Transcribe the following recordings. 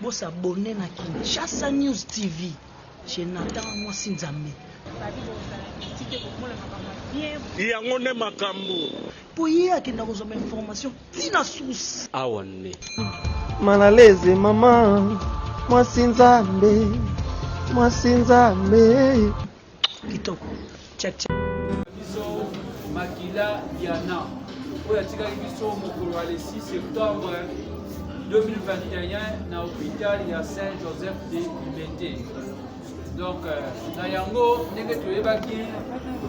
Bo s'abonner na Kinshasa News TV chez Nathan Mwasi Nzambe. Babi bozala petit te bokomola makambo ya bien. Yango nde makambo. Po ye akenda kozwa ba information ti na source. Awa nde. Malaleze maman mwasi nzambe mwasi nzambe. kitoko check check biso makila diana oyo atikaki biso mokolo ya le 6 septembre 2021 na hôpital ya saint joseph de limete donc euh, na yango ndenge toyebaki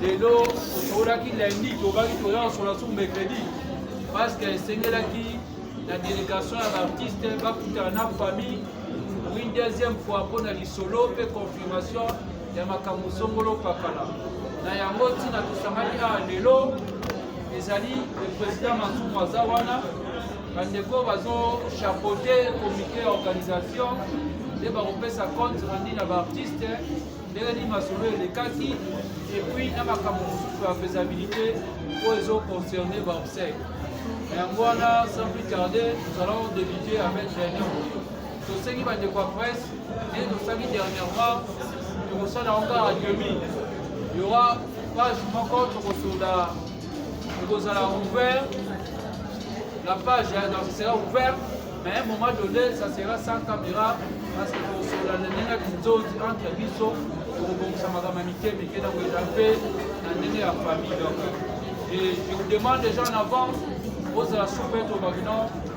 lelo tosololaki lundi tobaki toya kosola su mercredi parce que esengelaki la délégation ya baartiste bakutana na famille pour une deuxième fois mpo na lisolo mpe confirmation ya makambo songolo pakala na yango ntina tosangani awa lelo ezali le président masumu aza wana bandeko bazochapote comité ya organisation nde bakopesa compte rendu na baartiste ndenge nini masolo elekaki epuis na makambo mosusu ya faisabilité oyo ezoconcerne baobsèque na yango wana sans plus tarde nous allons débute avec réunion tosengi bandeko ya presse ndenge tosali dernièrement tokosala yango kaka demi yora page moko tokosola ekozala ouvert la page donc sera ouvert mais un moment donné ça sera sans caméra parce que tokosola ndenge kinzozi entre biso tokobongisa makambo ya mike mike na koyela mpe na ndenge ya famille donc et je vous demande déjà en avance ozala soupe to bakino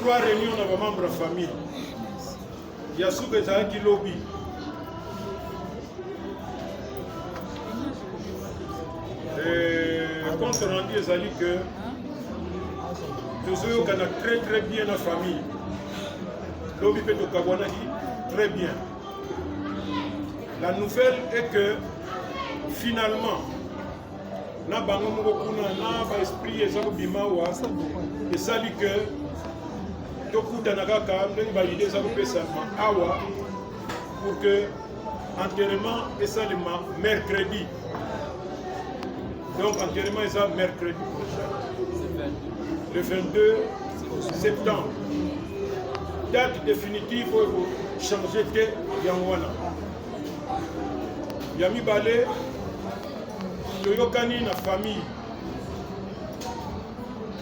Trois réunions na ba membres ya famille. Ya suka ezalaki lobi. Euh, compte rendu ezali que tozoyokana très très bien na famille. Lobi mpe tokabwanaki très bien. La nouvelle est que finalement na bango moko kuna na ba esprit eza kobima awa esali ke tokutana kaka ndenge baide eza kopesama awa pour que enterrement esalema mercredi donc enterrement eza mercredi prochain le 22 septembre date définitive oyo kochange te yango wana ya mibale toyokani na famille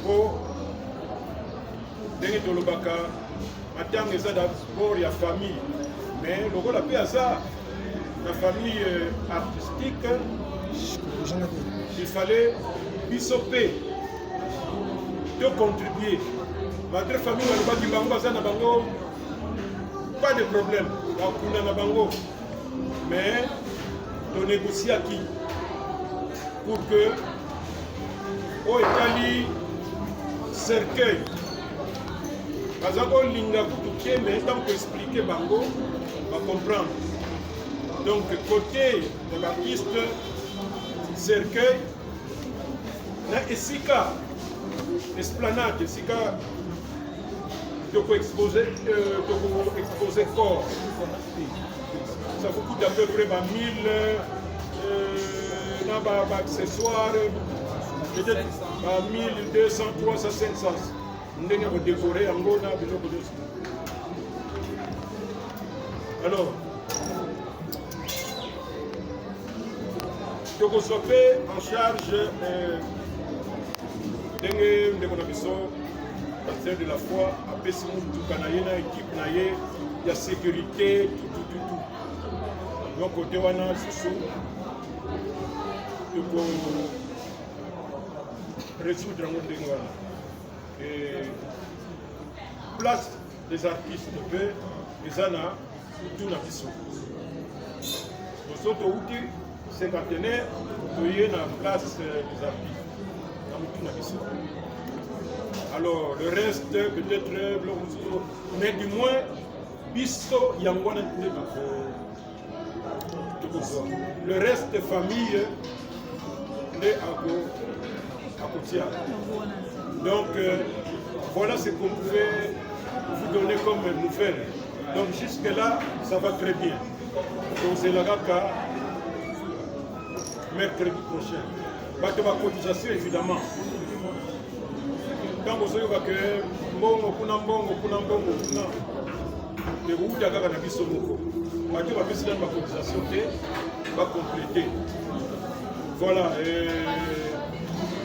po ndenge tolobaka matanga eza dabord ya famille mais lokola mpe aza na famille euh, artistique il fallait biso mpe tocontribue malgré famille balobaki bango baza na bango pas de problème bakunda na bango mais to négociaki pour que oyo etali cercueil baza kolinga kutu te mais ntango koexplike bango bacomprendre donc côté ya baartiste cercueil na esika esplanade esika toko expose euh, toko expose corps Ça vous coûte à peu près 1000 euh, na ba accessoires peut-être 1200 300 500 ndenge ya kodekore yango na biloko nyonso alors tokozwa mpe en charge euh, ndenge ndeko na biso pasteur de la foi apesi motuka na ye na ekipe na ye ya sécurité tutututu donc kote wana susu toko résoudre yango ndenge wana place des artistes mpe eza na tuna biso boso touti Cinquantenaire, toye na place euh, des artistes. Na mutu na biso. Alors, le reste, peut-être, euh, biloko mosusu. Mais du moins, biso yango wana nde tokozwa. Le reste, famille, nde ako akotia. Donc, euh, voilà ce qu'on pouvait vous donner comme nouvelle. Donc, jusque-là, ça va très bien. tozela kaka mercredi prochain bato ba cotisation évidemment ntango ozoyoka ke mbongo kuna mbongo kuna mbongo kuna ekouta kaka na biso moko bato bapesi nani ba cotisation te bacomplete voilà euh,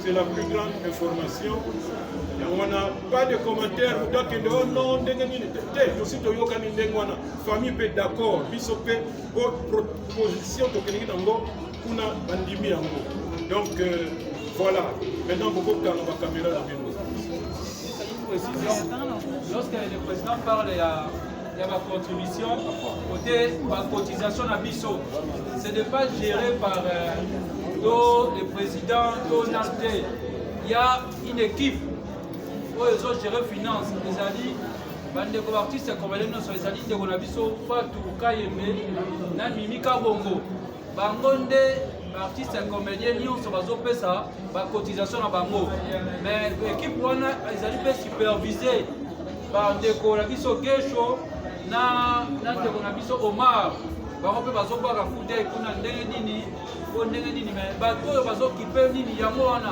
c'est la plus grande information yango wana pas de commentaire moto akende o oh non ndenge nini te tosi toyokani ndenge wana famille mpe d'accord biso mpe po proposition tokelingi nango kuna bandimi yango donc euh, voilà maintenant bokokanga bakamera na bino lorsque le président parle ya ya bacontribution kote bacotisation na biso ce n'est pas géré par euh, to le président to nas te ya une équipe oyo ezogere finance ezali Bandeko baartiste congolais nyonso ezali ndeko na biso Fatu Kayembe na Mimi Kabongo. Bango nde baartiste comédien nyonso bazopesa bacotisation na bango. Mais ekipe wana ezali mpe supervise bandeko na biso Gesho na na ndeko na biso Omar bango mpe bazobwaka kutei kuna ndenge nini mpo ndenge nini me bato oyo bazokipe nini yango wana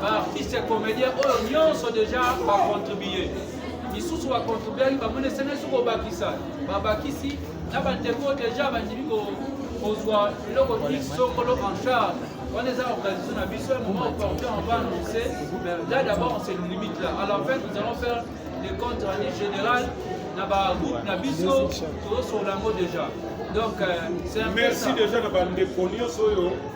ba artiste comédien oyo nyonso déjà ba contribuer misusu ba contribuaki bamoni esene soki obakisa babakisi na bandeko déjà bandimi kozwa eloko ti sokolo en charge wana eza organisation na biso ya moment opportun on va annoncer mais là d'abord on se limite là à la fin nous allons faire le compte rendu général na bagroupe na biso tozosola yango déjà donc euh, c'est un merci déjà na bandeko nyonso oyo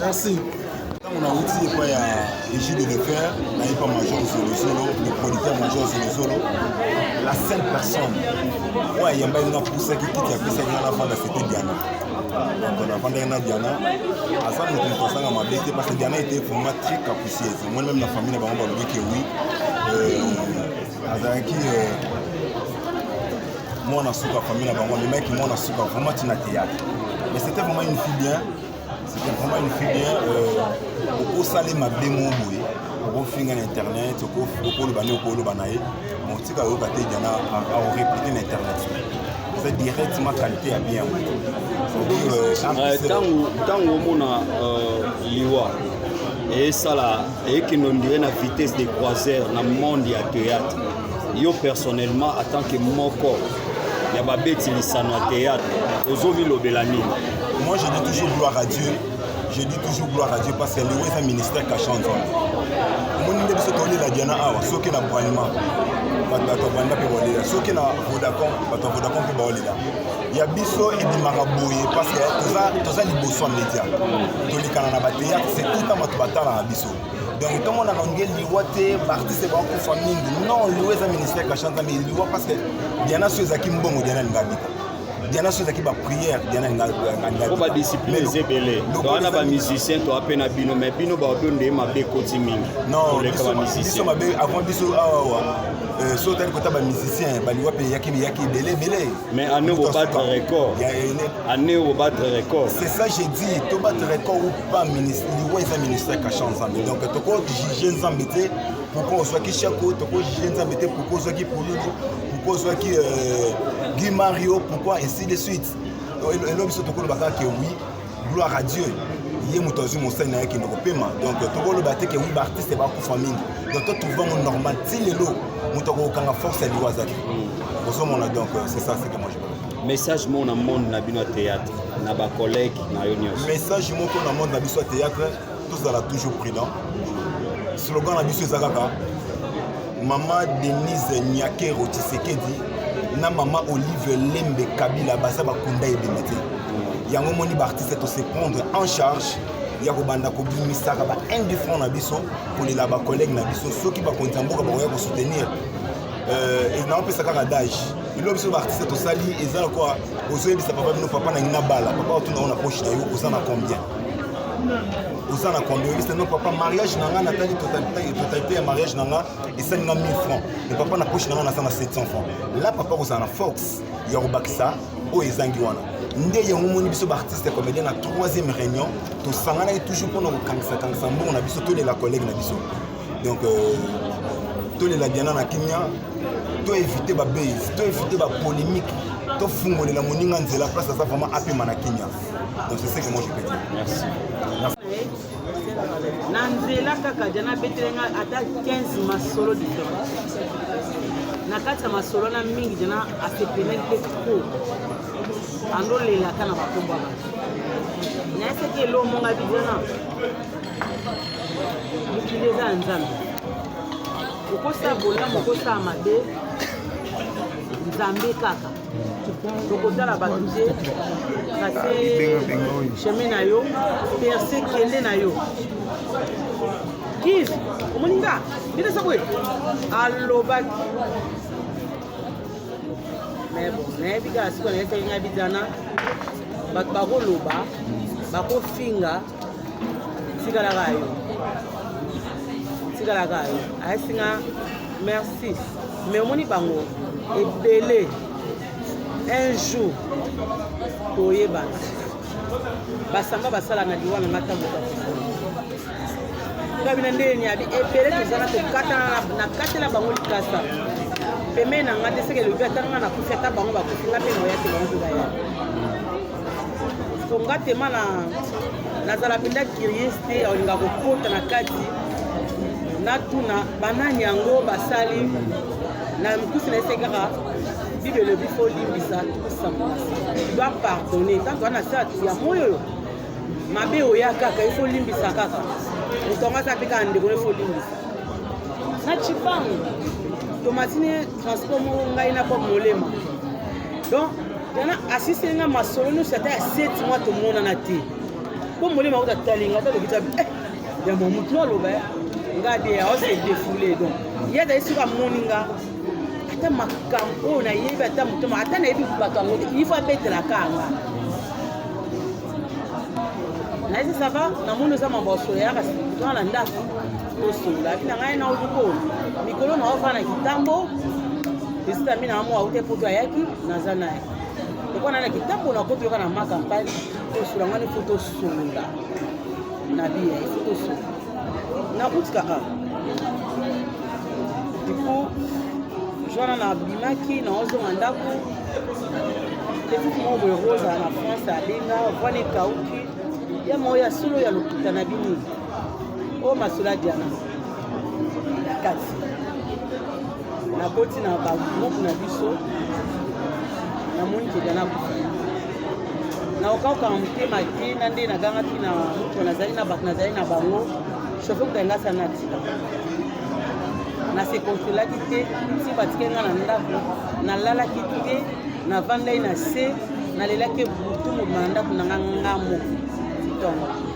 Merci. ntango nauti epai ya régie de lefer nayepa major zolozolo le producteur major zolozolo la seule personne oyo ayambaki nga pusaki kiti apesaki nga nafanda sete diana donc nafandaki na diana aza moto moto azanga mabe te parce que diana ete vraiment très capricieuse moi même na famille na bango balobaki oui euh, azalaki euh, mwana suka famille na bango amemaki mwana suka vraiment ntina théâtre mais c'était vraiment une fille bien c'était vraiment une fille bien euh, okosala ye mabe mo boye okofinga na internet okoloba nde okoloba na ye motika oyoka te diana aoreplike na internet eza directement qualité ya bien ntango omona liwa esala eyekende ondire na vitesse de croiseur na monde ya théâtre yo personnellement atant que moko ya babeti lisano ya théâtre ozomilobela nini moi je dis toujours gloire à dieu je dis toujours gloire à dieu parce que yango eza ministère kasha nzambe omoni nde biso tolela diana awa soki na bralima bato ya banda mpe baolela soki na vodacom bato ya vodacom mpe baolela ya biso ebimaka boye parce que toza, toza liboso ya media tolekana na bateyatre c'est tout temps bato batalaka biso donc tomonaka nge liwa te baartiste bakufa mingi non liwa eza ministère kashanta mais liwa parce que diana so ezalaki mbongo diana alinga bika diana so ezalaki baprière diana po badiscipline eza ebele towana bamusicien toa mpe na bino mais bino baoto nde mabe ekoti mingi non biso mabe avant biso awawa euh, so otali kota bamusicien baliwa mpe eyaki eyaki ebele ebele Mais année au battre record. Année au battre record. C'est ça j'ai dit, to battre record ou pas ministre, liwa eza ministère kasha nzambe. Donc to ko juger nzambe te pourquoi on soit ki shako, to ko juger nzambe te pourquoi on soit ki polulu, pourquoi on soit ki euh, Guy Mario, pourquoi ainsi de suite. Et l'homme se tokolo baka que oui, gloire à dieu ye moto azwi mosali na ye akende kopema donc tokoloba te ke wi baartiste bakufa mingi donc totrouvango normal ti lelo moto akokokanga force ya liwa aza te ozomona donc euh, c'est ça ce que moi je parle message moko na monde na bino ya théâtre na bacollègue na yo nyonso message moko na monde na biso ya théâtre tozala toujours prudent slogan na biso eza kaka mama denise nyakero tshisekedi na mama olive lembe kabila baza bakunda ebembe te yango omoni baartiste to se prendre en charge ya kobanda kobimisaka ba indifferent na biso kolela bacollègue na biso soki bakonzi ya mboka bakoya kosoutenir euh, naopesa kaka dage ilo biso baartiste tosali eza na kwa ozoyebisa papa bino papa na ngai nabala papa otuna ngo na poche na yo oza na combien oza na combien olisa no papa mariage na ngai natali totalite ya mariage na ngai esali nga 1000 francs me papa na poche na ngai naza na 700 francs la papa kozala na force ya kobakisa oyo ezangi wana nde yango omoni biso baartiste ya comédien na troisième réunion tosanganaki toujours mpona kokangisakangisa mbongo na biso tolela collègue na biso donc euh, tolela diana na kimia toevite babase toevite bapolémique tofungolela moninga nzela place aza vraiment apema na kimia Donc c'est ce que moi je peux dire. Merci. Merci. na nzela kaka dia nabetele nga ata 15 masolo différence na kati ya masolo na mingi dia na asepele mpe ko andolelaka na bakombo ya bato nayesaki elomonga bijana mokili eza ya nzambe okosala bolamu okosala mabe nzambe kaka tokotala bato te trase ah, chemin na yo perse kende na yo kive omoni nga ndenge eza boye alobaki mais bon nayebi kaka sikoyo nayesaki ngai bizana bato bakoloba bakofinga tikalaka yo tikalaka yo ayesinga merci Mais omoni bango ebele un jour toyebana basamba basala na liwa na nga ntango ngai bina ndenge niabi ebele toza na kokatana na kati na bango likasa pembeni na ngai te seke elobi ata ngai nakufi ata bango bakufi ngai mpe moya te bango mpe baya po nga tema na nazala mpenza curieux te olinga kokota na kati natuna banani yango basali na mikusi na ese kaka bible elobi fo olimbisa tokosamola doit pardonne ntango wana se ya moi oyo mabe oya kaka ifo olimbisa kaka moto yango aza mpe kaka ndeko no ifo olimbisa na cipango tomatini transport moko ngai na bob molema donc Dana asisi nga masolo nyonso ata ya seti mwa tomonana te mpo molimo akuta talinga ata lobi tabi eh, ya mwa motu no aloba ya nga de aose defoule donc ye azali soki amoni nga ata makambo oyo nayebi ata motoma ata nayebi bato yango te ifo abetelaka nga nayesi sava namoni oza mambo ya solo yaka twana na ndako Tosola bina ngai na ozuko mikolo na ofa na kitambo esita mina amo aute poto ayaki naza naye lokola na na kitambo na koti yoka na ma campagne tosola ngani fo tosolola na biya ifo tosolola nakutika a du coup jwana na bimaki na ozonga ndako petit moko boye rosa na france abenga vwana ekauki ya moko ya solo ya lokuta na bini o oh, masula diana na kati nakoti na bagroupe na biso namoni ke diana akufa naokauka na motema te na nde nagangaki na moto nazali na bato nazali na bango shofe kuta nga sana atika nasekonsolaki te si batike nga na ndako nalalaki te navandai na se nalelaki butu mobima na ndako na nga nga moko ntongo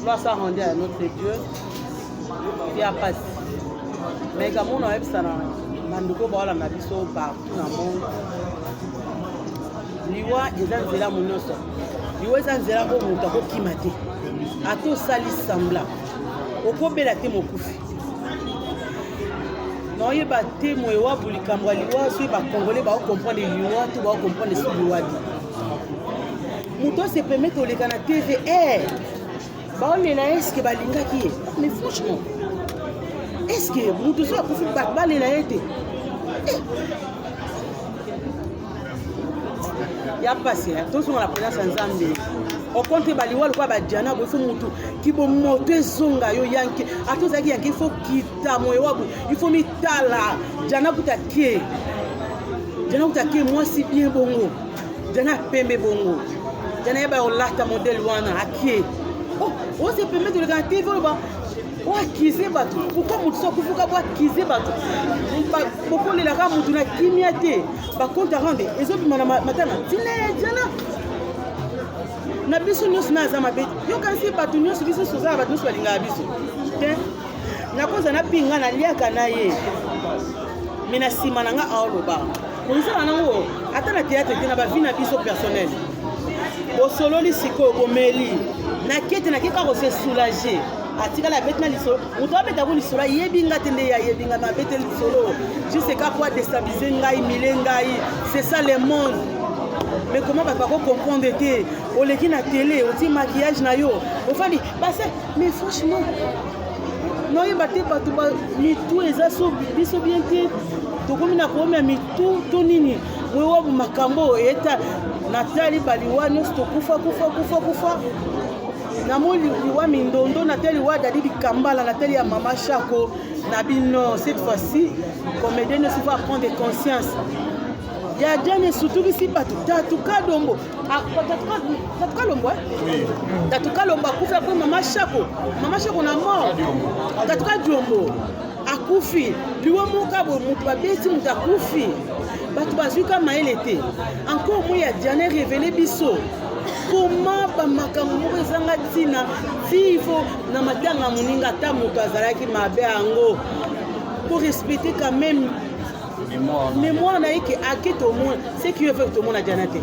Gloire soit rendue à notre Dieu. Via passe. Mais comme on a vu ça, bandeko baolanda biso partout na monde liwa eza nzela mo nyonso liwa eza nzela oyo moto akokima te ata osali sambla okobela te mokufi naoyeba te moye wabu likambo ya liwa soki bakongole baokomprendre liwa to baokomprendre so liwa te moto ase permettre koleka na tv eh, baolela ye eske balingaki ye mais franchement eske moto soki akufi bato balela ye te eh. ya mpasi eh. tozonga na présence ya nzambe okonte baliwa lokola badiana boye fo motu kibo moto ezonga yo yanke ata ozalaki yanke ifo kita moyo wabu ifo mitala diana kutake diana kutake mwasi bien bongo Diana pembe bongo. Diana yeba olata modèle wana akie. Oh, ose pembe toleka na TV oloba oakize bato pourkoi moto so akufuka boakize bato bokolelaka moto na kimia te bakonte arande ezobima na matanga tina ya diana na biso nyonso na aza mabe yokanisi bato nyonso biso nyonso ozala bato nyonso balingaka biso te nakozala napinga naliaka na ye me na nsima na nga aoloba Bozala nango ata na théâtre te na ba vie na biso personnel. Bosololi sikoyo bomeli. Na kete na keka ko se soulager. atikala abeti na lisolo moto abeta yango lisolo ayebi nga te nde ye ayebi nga me abete lisolo juste eka po adestabilise ngai mile ngai c'est ça le monde mais comment bato bako comprendre te oleki na tele otie maquillage na yo ofandi base mais franchement noyeba te bato mitu eza so biso bien te tokomi na koomia mitu to nini moyewabu makambo oyo eta natali baliwa nyonso tokufa kufa kufa kufa namoni liwa mindondo natali liwa dadi likambala natali ya mama shako na bino cette fois-ci comédien nyonso faut apprendre conscience ya jane esutukisi bato tatu kadombo Ah, tatuka lombo tatuka lombo akufi apres mama shako mama shako na mort tatuka diombo akufi liwa moka boye moto babeti moto akufi bato bazwi ka mayele te encore moi ya diane revele biso koma bamakambo moko ezanga ntina tivo na matanga moninga ata moto azalaki mabe yango korespecte quand même memoire na ye ke ake tomona ce qui fait tomona diana te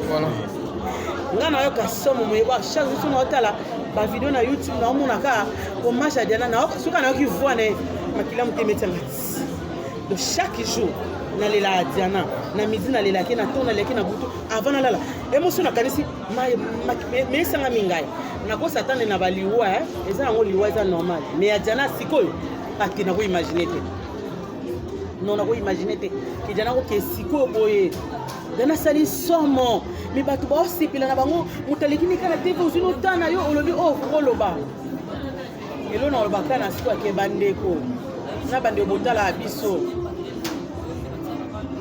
nga nayoka somo moye ba chaque jour somo otala bavideo na youtube naomona kaka hommage ya diana soki nayoki voi na ye makila motema etianga donc chaque jour nalela diana na midi nalelaki na to nalelaki na butu avant nalala emoso nakanisi meesanga mingai nakosa atande na baliwa eza yango liwa eza normal mais ya diana sikoyo ati nakoimagine te non nako imagine te ke jana koke sikoyo boye jana asali somo me bato baosepela na bango moto aleki nika na tv ozwi nota na yo olobi oyo oh, kokoloba elo na oloba kaka na siko ake bandeko na bandeko botalaka biso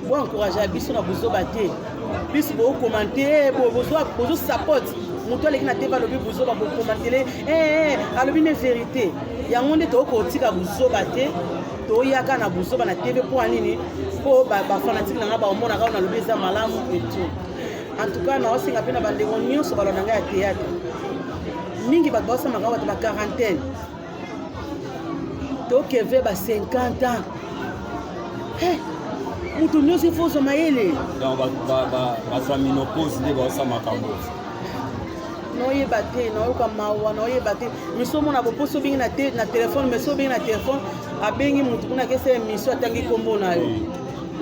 boencouragea biso na bozoba te biso bokomante bozosapote moto aleki na tv alobi bozoba bokomantele eh, eh, alobi ne verité yango nde tokokotika bozoba te toyaka na buzoba na tv mpo nini mpo bafanatike na ngai baomonaka oyo nalobi eza malamu etu en tout cas naosenga mpe na bandeko nyonso balona ngai ya théâtre mingi bato baosamaka bato ba quarantaine tokeve ba 50 ans eh, moto nyonso ifo ozwa mayele bazwa minopose nde baosa makambo naoyeba te nayoka mawa naoyeba te miso omona boposo obengi na te na telefone miso obengi na telefone abengi motu kuna kesa ya miso atangi nkombo na yo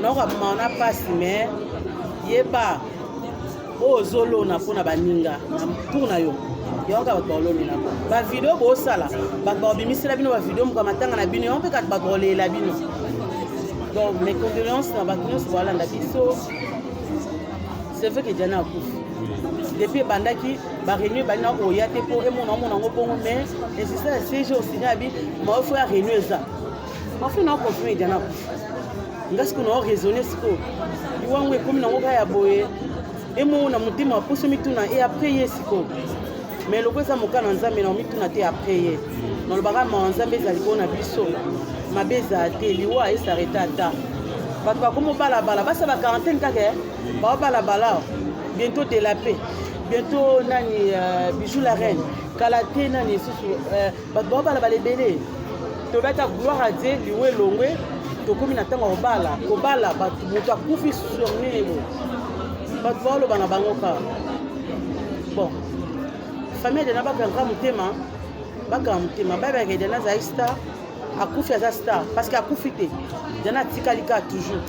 nayoka mawa na mpasi me yeba oyo ozolona mpo na baninga na tour na yo yango kaka bato baolonela bavideo bosala bato baobimisela bino bavideo moka matanga na bino yango mpe kaka bato baolelela bino donc mes condoléances na bato nyonso baolanda biso c'est vrai que diana akufi depuis ebandaki bareunion ebandi na oya te mpo emona omona yango bongo mais insista ya cg osina ya bi maofo ya reunion eza maofo na okonfirme edi na akufi nga sikoyo nao raisonne sikoyo liwango ekomi nango kaka ya boye emongo na motema aposo mituna e après ye sikoyo mais loko eza moka na nzambe na omituna te après ye nalobaka mawa nzambe ezali mpo na biso mabe ezala te liwa esareta ata bato bakomi obalabala basala quarantaine kaka eh? Baobala balao, bientôt de la paix, bientôt nani euh, bijou la reine, kala te nani lisusu euh, bato baobala bala ebele toyebi ata gloire a dieu liwo elongwe tokomi na ntango ya kobala kobala bato moto akufi sur nini boye bato baoloba na bango kaka bon famille edena bakanga motema bakanga motema babaka edena azali star akufi aza star parce que akufi te edena atikali kaka toujours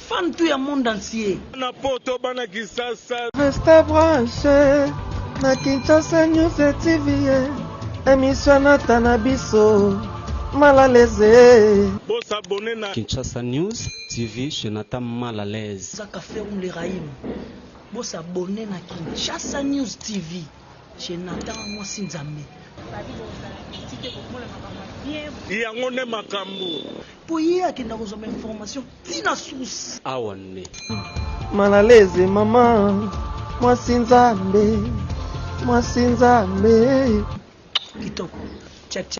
Fan tout ya monde entier. Bana poto bana kisasa. Resta branche na Kinshasa News TV emission nata na biso malaleze. Bo s'abonner na Kinshasa News TV chez Nata malaleze. Zaka Ferrum le Rahim. Bo s'abonner na Kinshasa News TV. Chez Nathan mwasi nzambe. Babi bozala petit te bokomola makambo ya bien boye. Yango nde makambo. Po ye akenda kozwa ba information ti na source. Awa nde. Mal à l'aise maman mwasi nzambe mwasi nzambe kitoko tcha tcha